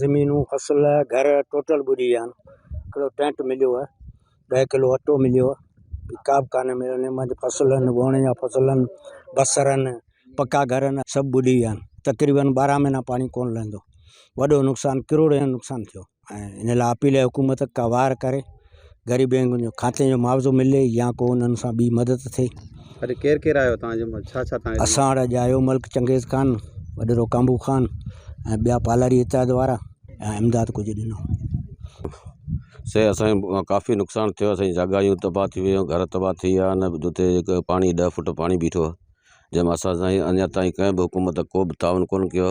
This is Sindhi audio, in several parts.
زمينون فصل گهر ٽوٽل ٻڏي ويا آهن هڪڙو ٽينٽ مليو آهي ڏهه ڪلو اٽو مليو آهي ٻي ڪا به ڪاني مليو آهي مند فصلن ووڻ جا فصلن بصرن پڪا گهر آهن سڀ ٻڏي ويا آهن تقريبن ٻارهن مهينا پاڻي ڪونه لهندو وڏو نقصان ڪروڙين جو نقصان ٿيو ۽ ان لاء اپيل آهي حڪومت ڪا وار ڪري غريبين جو کاتي جو معاوضو ملي يا ڪو انهن سان ٻي مدد ٿئي اڄ ڪير ڪير آيو تان جو ڇا ڇا تان اسان وٽ اڄ آيو ملڪ چنگيز خان وڏيرو ڪامبو خان ۽ ٻيا پالاري اتحاد وارا ۽ امداد ڪجهه ڏنو سي اسان ڪافي نقصان ٿيو اسان جاگايون تباهه ٿي ويو گهر تباهه ٿي ويا نه جتي هڪ پاڻي ڏهه فٽ پاڻي بيٺو جنهن مان اسان سائين اڃا تائين ڪنهن به حڪومت ڪو به تعاون ڪون ڪيو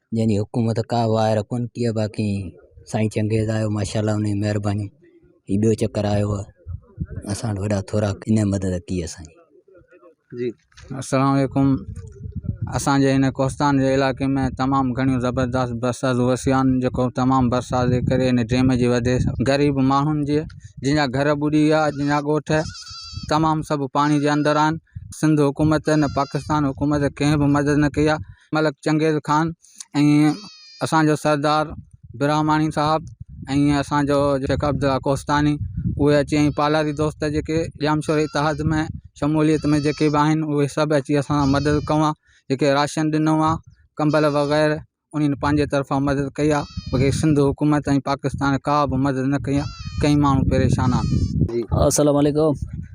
جنهن جي حڪومت ڪا واء رکون ڪي باقي سائين چنگيز آيو ماشاءالله انهي مهرباني هي ٻيو چڪر آيو آهي اسان وٽ وڏا ٿورا انهي مدد ڪي اسانجي جي السلام عليڪم اسانجي هن ڪوستان جي علائقي ۾ تمام گهڻيون زبردست برساتون وسيون آهن جيڪو تمام برسات جي ڪري هن ڊيم جي وڌي سان غريب ماڻهن جي جن جا گهر ٻڏي ويا جن جا ڳوٺ تمام سڀ پاڻي جي اندر آهن سنڌ حڪومت نه پاڪستان حڪومت ڪنهن به مدد نه ڪئي آهي ملڪ چنگيز خان ۽ اسانجو سردار برهماڻي صاحب ۽ اسانجو شيخ عبدالله ڪوهستاني اهي اچي ۽ پالاري دوست جيڪي ڄامشوري اتحاد ۾ شموليت ۾ جيڪي به آهن اهي سڀ اچي اسان سان مدد ڪئو آ جيڪي راشن ڏنو آ ڪمبل وغيره انهن پنهنجي طرفان مدد ڪئي آ بقي سنڌ حڪومت ۽ پاڪستان ڪابه مدد نه ڪئي آ ڪئين ماڻهو پريشان آ السلام عليڪم